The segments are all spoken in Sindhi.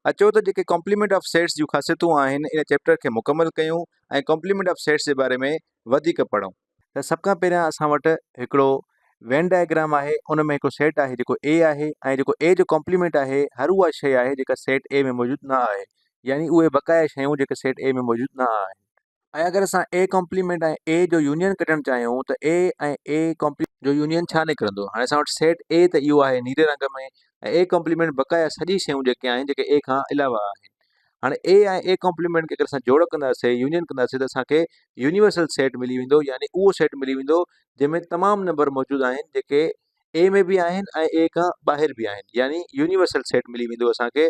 اچو ته جيڪي ڪامپليمينٽ آف سيٽس جون خاصيتون آهن ان چيپٽر کي مڪمل ڪيون ۽ ڪامپليمينٽ آف سيٽس جي باري ۾ وڌيڪ پڙهون. ته سڀ کان پهريان اسان وٽ هڪڙو وين ڊائگرام آهي ان ۾ هڪڙو سيٽ آهي جيڪو A آهي ۽ جيڪو A جو ڪامپليمينٽ آهي هر اها شيء آهي جيڪا سيٽ A ۾ موجود نه آهي يعني اهي بقايا شيون جيڪي سيٽ A ۾ موجود نه آهن. ۽ اگر اسان اي ڪمپليمينٽ ۽ اي جو يونين ڪڍڻ چاهيون ته اي ۽ اي ڪمپليمينٽ جو يونين ڇا نڪرندو هاڻي اسان وٽ سيٽ اي ته اهو آهي نيري رنگ ۾ ۽ اي ڪمپليمينٽ بقايا سڄي شيون جيڪي آهن جيڪي اي کان علاوه آهن هاڻي اي ۽ اي ڪمپليمينٽ کي اگر اسان جوڙ ڪنداسي يونين ڪنداسي ته اسان کي يونيورسل سيٽ ملي ويندو يعني اهو سيٽ ملي ويندو جنهن ۾ تمام نمبر موجود آهن جيڪي اي ۾ به آهن ۽ اي کان ٻاهر به آهن يعني يونيورسل سيٽ ملي ويندو اسان کي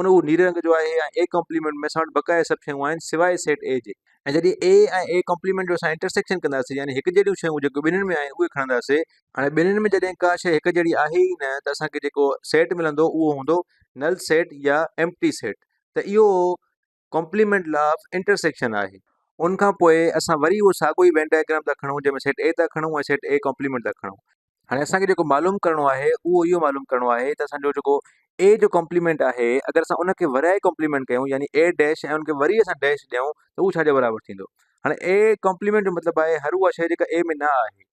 ان اهو نيري رنگ جو آهي ۽ اي ڪمپليمينٽ ۾ اسان وٽ بقايا سڀ شيون آهن سواء سيٽ اي جي ۽ جڏهن اي ۽ اي ڪمپليمينٽ جو اسان انٽرسيڪشن ڪنداسين يعني هڪ جهڙيون شيون جيڪو ٻنهين ۾ آهن اهي کڻنداسي هاڻي ٻنهين ۾ جڏهن ڪا شيء هڪ جهڙي آهي ئي نه ته اسان کي جيڪو سيٽ ملندو اهو هوندو نل سيٽ يا ايمپٽي سيٽ ته اهو ڪمپليمينٽ لا آف انٽرسيڪشن آهي. ان کان پوء اسان وري اهو ساڳيو ئي وين ڊائگرام ٿا کڻون جنهن ۾ سيٽ اي ٿا کڻون ۽ سيٽ اي ڪمپليمينٽ ٿا کڻون. هاڻي اسان کي جيڪو معلوم ڪرڻو آهي اهو اهو معلوم ڪرڻو آهي ته اسان جو جيڪو اي جو ڪمپليمينٽ آهي اگر اسان ان کي ورائي ڪمپليمينٽ ڪيون يعني اي ڊيش ۽ ان کي وري اسان ڊيش ڏيون ته اهو ڇا جي برابر ٿيندو. هاڻي اي ڪمپليمينٽ جو مطلب آهي هر اها شيء جيڪا اي ۾ نه آهي.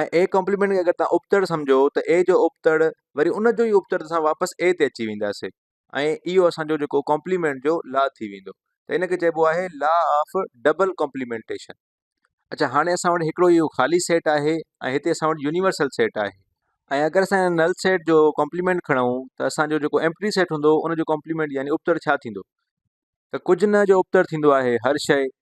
۽ اي ڪامپليمينٽ کي اگر توهان ابتڙ سمجهو ته اي جو ابتڙ وري ان جو ئي ابتڙ اسان واپس اي تي اچي وينداسين ۽ اهو اسانجو جيڪو ڪامپليمينٽ جو لا ٿي ويندو ته ان کي چئبو آهي لا آف ڊبل ڪامپليمينٽيشن اچا هاڻي اسان وٽ هڪڙو اهو خالي سيٽ آهي ۽ هتي اسان وٽ يونيورسل سيٽ آهي ۽ اگر اسان نل سيٽ جو ڪامپليمينٽ کڻون ته اسانجو جيڪو ايمپٽي سيٽ هوندو ان جو ڪامپليمينٽ يعني ابتڙ ڇا ٿيندو ته ڪجهه نه جو ابتڙ ٿيندو آهي هر شيء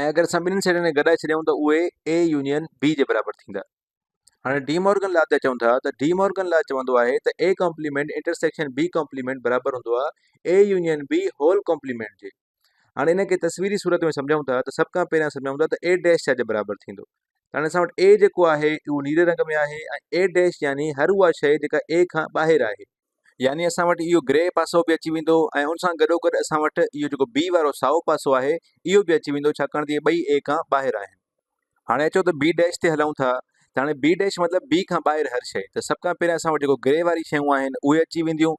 ۽ اگر اسان ٻنهن سيٽن کي گڏائي ڇڏيائون ته اهي اي يونين بي جي برابر ٿيندا. هاڻي ڊي مورگن لا تي اچون ٿا ته ڊي مورگن لا چوندو آهي ته A complement intersection B complement برابر هوندو آهي A union B whole complement جي. هاڻي ان کي تصويري صورت ۾ سمجهون ٿا ته سڀ کان پهريان سمجهون ٿا ته اي ڊيش ڇا جي برابر ٿيندو ته هاڻي اسان وٽ اي جيڪو آهي اهو نيري رنگ ۾ آهي ۽ اي ڊيش يعني هر اها شيء جيڪا اي کان ٻاهر آهي يعني اسان وٽ اهو گري پاسو به اچي ويندو ۽ ان سان گڏوگڏ اسان وٽ اهو جيڪو بي وارو سائو پاسو آهي اهو به اچي ويندو ڇاڪاڻ ته اهي ٻئي اي کان ٻاهر آهن. هاڻي اچو ته بي ڊيش تي هلون ٿا ته هاڻي بي ڊيش مطلب بي کان ٻاهر هر شيء ته سڀ کان پهريان اسان وٽ جيڪو گري واري شيون آهن اهي اچي وينديون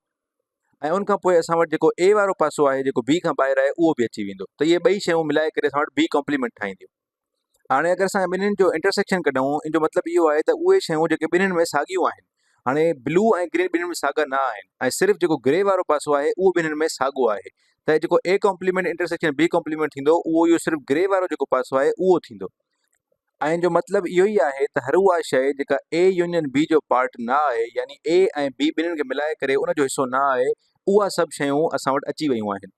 ۽ ان کان پوء اسان وٽ جيڪو اي وارو پاسو آهي جيڪو بي کان ٻاهر آهي اهو به اچي ويندو ته اهي ٻئي شيون ملائي ڪري اسان وٽ بي ڪامپليمينٽ ٺاهينديون. هاڻي اگر اسان ٻنهين جو انٽرسيڪشن ڪڍون ان جو مطلب اهو آهي ته اهي شيون جيڪي ٻنهين ۾ ساڳيون آهن هاڻي بلو ۽ گرين ٻنهين ۾ ساڳا نه آهن ۽ صرف جيڪو گري وارو پاسو آهي اهو ٻنهين ۾ ساڳو آهي ته جيڪو A complement intersection B complement ٿيندو اهو اهو صرف گري وارو جيڪو پاسو آهي اهو ٿيندو ۽ جو مطلب اهو ئي آهي ته هر اها شيء جيڪا اي يونين بي جو پارٽ نه آهي يعني اي ۽ بي ٻنهين کي ملائي ڪري ان جو حصو نه آهي اها سڀ شيون اسان وٽ اچي ويون آهن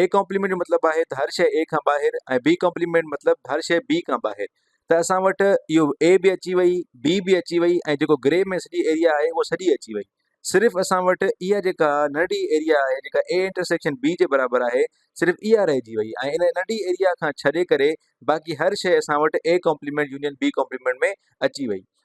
اي ڪامپليمينٽ جو مطلب آهي ته هر شيء اي کان ٻاهر ۽ بي ڪامپليمينٽ مطلب هر شيء بي کان ٻاهر ته اسان وٽ اهو اي به اچي وئي بي به اچي وئي ۽ جيڪو گري ۾ سڄي ايريا آهي اهو سڄي اچي وئي صرف اسان وٽ اها جيڪا ننڍي ايريا آهي جيڪا اي انٽرسيڪشن بي جي برابر آهي صرف اها رهجي وئي ۽ ان ننڍي ايريا کان ڇڏي ڪري باقي هر شيء اسان وٽ A complement union B complement ۾ اچي وئي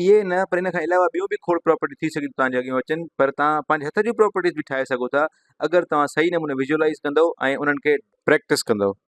اهي ئي نه پر ان کان علاوه ٻيون به کوڙ پراپرٽي ٿي سگهي ٿيون توهان جي اڳيان اچن پر توهان پنهنجي هٿ جون پراپرٽيز به ٺاهي سگهو ٿا اگر توهان صحيح نموني ويزولايز ڪندو ۽ انهن کي پريڪٽس ڪندو.